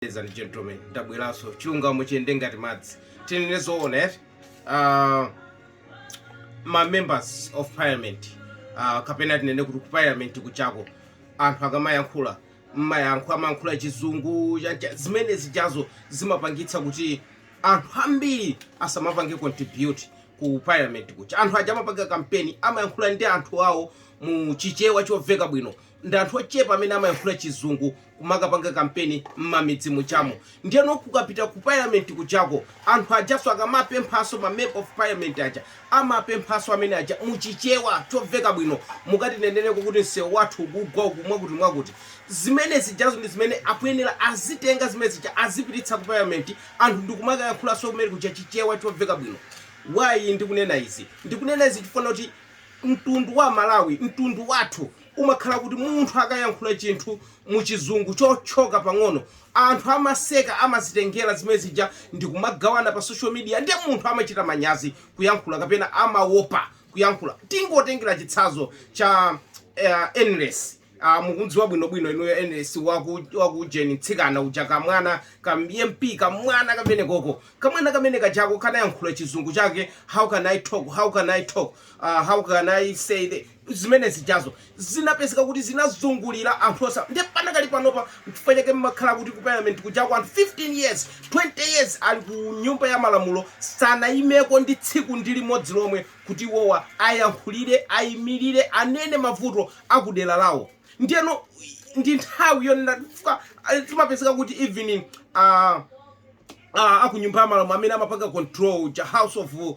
ladies and gentlemen ndabweranso chilungamo chiyende ngati madzi tinene zoona eti uh, ma members of parliament uh, kapena tinene kuti ku parliament kujako anthu akamayankhula mmayankhula amayankhula chizungu chancha- zimene zijazo zimapangitsa kuti anthu ambiri asamapange contribute ku parliament kuja anthu aja amapanga kampeni amayankhula ndi anthu awo mu chichewa chomveka bwino ndi anthu ochepa amene amayankhula chizungu kumakapanga kampeni mmamidzi mujamu ndiyeno kukapita ku parliament kujako anthu ajaso akamapemphaso ma member of parliament aja amapemphaso amene aja muchichewa choveka bwino mukatineneleko kuti msewu wathu ukugwa uku mwakuti mwakuti zimene zijazo ndi zimene akuyenera azitenga zimene zija azipititsa ku parliament anthu ndikumakayankhulaso kumene kuja chichewa choveka bwino why ndikunena izi ndikunena izi chifukwa kuti mtundu wa amalawi mtundu wathu umakhala kuti munthu akayankhula chinthu mu chizungu chotchyoka pang'ono anthu amaseka amazitengera zimene zija ndikumagawana pa social media nde munthu amachita manyazi kuyankhula kapena amawopa kuyankhula tingotengera chitsanzo cha a enelesi Ah, mukumdziwa bwinobwino inuyo ns waku waku ujeni mtsikana uja kamwana ka mp kamwana kamene koko kamwana kamene kajako kanayankhula chizungu chake how can i talk how can i talk Ah, how can i say the zimene zijazo zinapezeka kuti zinazungulira anthu osa ndi panakali panopa chifukwa chake mmakhala kuti ku parliament kuja kwa anthu 15 years 20 years ali ku nyumba ya malamulo sanayimeko ndi tsiku ndi limodzi lomwe kuti iwowa ayankhulire ayimirire anene mavuto a ku dera lawo ndiyeno ndi nthawi yonena chifukwa ah, timapezeka kuti even ah, ah, akunyumba ya malamulo amene amapanga control the house of uh,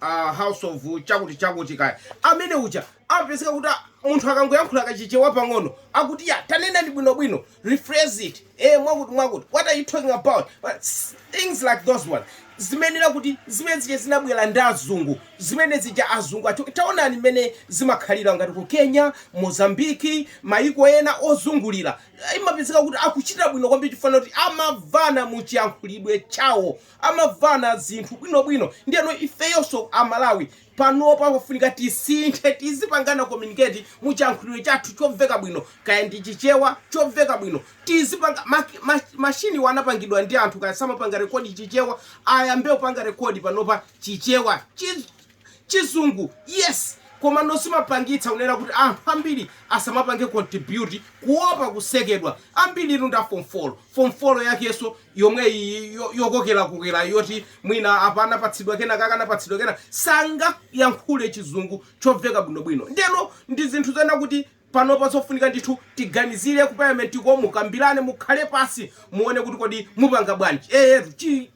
uh, house of chakuti chakuti kaya amene uja amapezeka kuti ah, munthu akangoyankhula kachichewa pang'ono akuti ya tanenani bwinobwino rephrase it ee mwakuti mwakuti what are you talking about but things like those ones imene ija kuti zimene zija zinabwera ndi azungu zimene zija azungu aja taonani mmene zimakhalira ngati ku kenya mozambiki maiko ena ozungulira imapezeka kuti akuchita bwino kwambiri chifukwa kuti amavana mu chiyankhulidwe chawo amavana zinthu bwinobwino ndiyeno ifeyonso amalawi Panopa pafunika tisinthe, tizipangana communicate mu chiyankhulidwe chathu chomveka bwino, kaya ndi Chichewa chomveka bwino. Tizipanga ma ma machinewa anapangidwa ndi anthu kaya samapanga record Chichewa, ayambe kupanga record panopa Chichewa. Chi Chizungu yes, komano zimapangitsa kunena kuti anthu ambiri asamapange contribute kuopa kusekedwa. Ambiritu ndi a form four, form four yakenso yomwe iyi yo- yokokerakokera yoti mwina apa anapatsidwa kenakake anapatsidwa kena sangayankhule chizungu chomveka bwinobwino ndeno ndi zinthu zoona kuti panopa zofunika ndithu tiganizire ku parliament-ko mukambirane mukhale pansi muone kuti kodi mupanga bwanji ee chi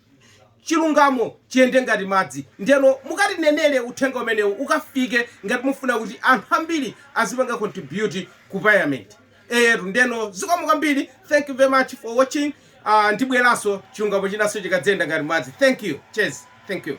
chilungamo chiyende ngati madzi ndeno mukatinenere uthenga umenewu ukafike ngati mufuna kuti anthu ambiri azipanga contribute ku parliament eyetu ndeno zikomo kwambiri thank you very much for watching uh, ndibweranso chilungamo chinanso chikadzayenda ngati madzi thank you cheers thank you